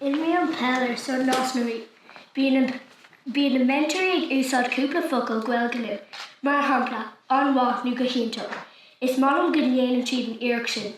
Imrím peil ar son Nás na Rí. Bíonn na meantóirí ag úsáid cúpla focal Gaeilge linn, mar shampla, an-mhaith nó go hiontach. Is maith liom go ndéanann siad an iarracht sin.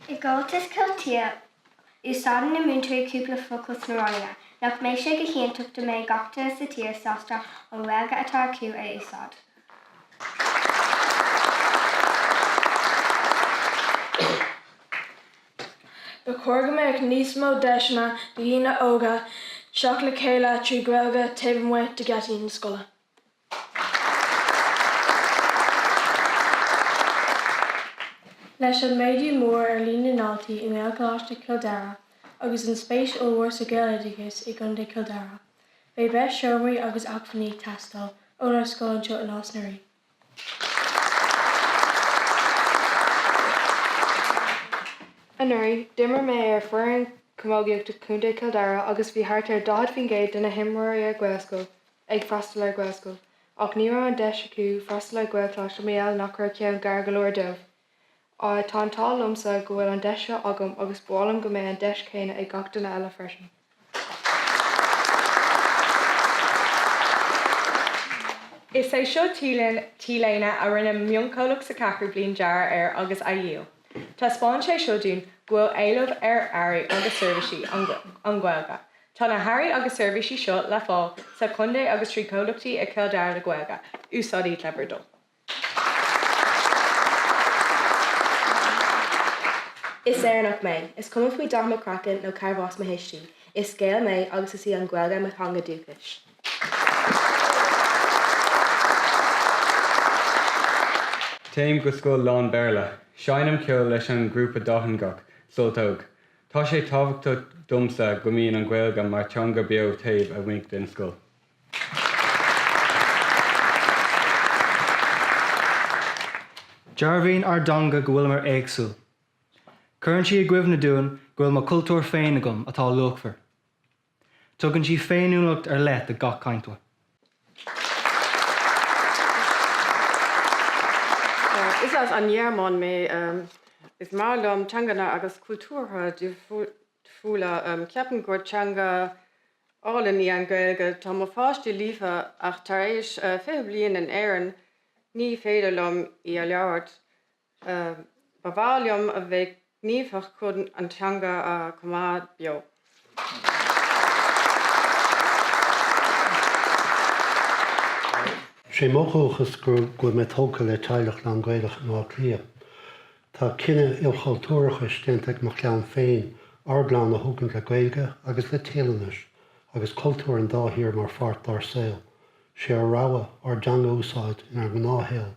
I gComhaltas Cultúir, Úsáideann na múinteoirí cúpla focal sna ranganna. Nach mbeidh sé go hiontach dá mbeadh gach duine sa tír sásta an Ghaeilge atá acu a úsáid? Ba chóir go mbeadh níos mó deiseanna do dhaoine óga teacht le chéile trí Ghaeilge taobh amuigh de gheataí na scoile. Leis an méadú mór ar líon na ndaltaí i nGaelcholáiste Chill Dara agus an spéis ollmhór sa Ghaeloideachas i gContae Chill Dara, beidh breis seomraí agus acmhainní ag teastáil ónár scoil anseo i Nás na Rí. Anuraidh, d'imir mé ar foireann camógaíochta Chontae Chill Dara agus bhí thart ar 40% de na himreoirí ar Ghaelscoil ag freastal ar Ghaelscoil, ach ní raibh an deis acu freastal ar Ghaelcholáiste mar gheall nach raibh ceann gar go leor dóibh. Tá an t-ádh liomsa go bhfuil an deis seo agam agus ba mhaith liom go mbeidh an deis chéanna ag gach duine eile freisin. Is é seo t-léine a rinne mionchomhlacht sa Cheathrú Bliain dearadh air agus a dhíol. Taispeánann sé seo dúinn go bhfuil éileamh ar earraí agus seirbhísí an Ghaeilge Tá na hearraí agus seirbhísí seo le fáil sa chontae agus trí chomhlachtaí i gCill Dara le Gaeilge. Úsáidí Clever Dog. Is Éireannach mé, is cuma faoi dhath mo chraicinn nó carbh as mo thuistí. Is Gael mé agus is í an Ghaeilge mo theanga dúchais. Téim go scoil lán-Bhéarla. Seinnim ceol leis an ngrúpa dátheangach, Sult Óg. Tá sé tábhachtach domsa go mbíonn an Ghaeilge mar theanga beo taobh amuigh den scoil. Dearbhaíonn ár dteanga go bhfuilimar éagsúil. Cuireann sí i gcuimhne dúinn go bhfuil mo chultúr féin agam atá luachmhar. Tugann sí féiniúlacht ar leith do gach cainteoir. Is as an nGearmáin mé. Is maith liom teanganna agus cultúrtha difriúla. Ceapaim gur teanga álainn í an Ghaeilge. Tá mo pháistí líofa ach tar éis fiche bliain in Éirinn ní féidir liom í a labhairt. Ba mhaith liom a bheith gníomhach chun an teanga a choimeád beo. Is é mo dhúchas go bhfuil mé tógtha le teaghlach lán-Ghaelach in Áth Cliath. Tá cinneadh ilchultúrachais déanta ag mo chlann féin ár gclann a thógaint le Gaeilge agus le Téalainnis agus cultúir an dá thír mar pháirt dár saol. Sé ár rogha ár dteanga a úsáid inár ngnáthshaol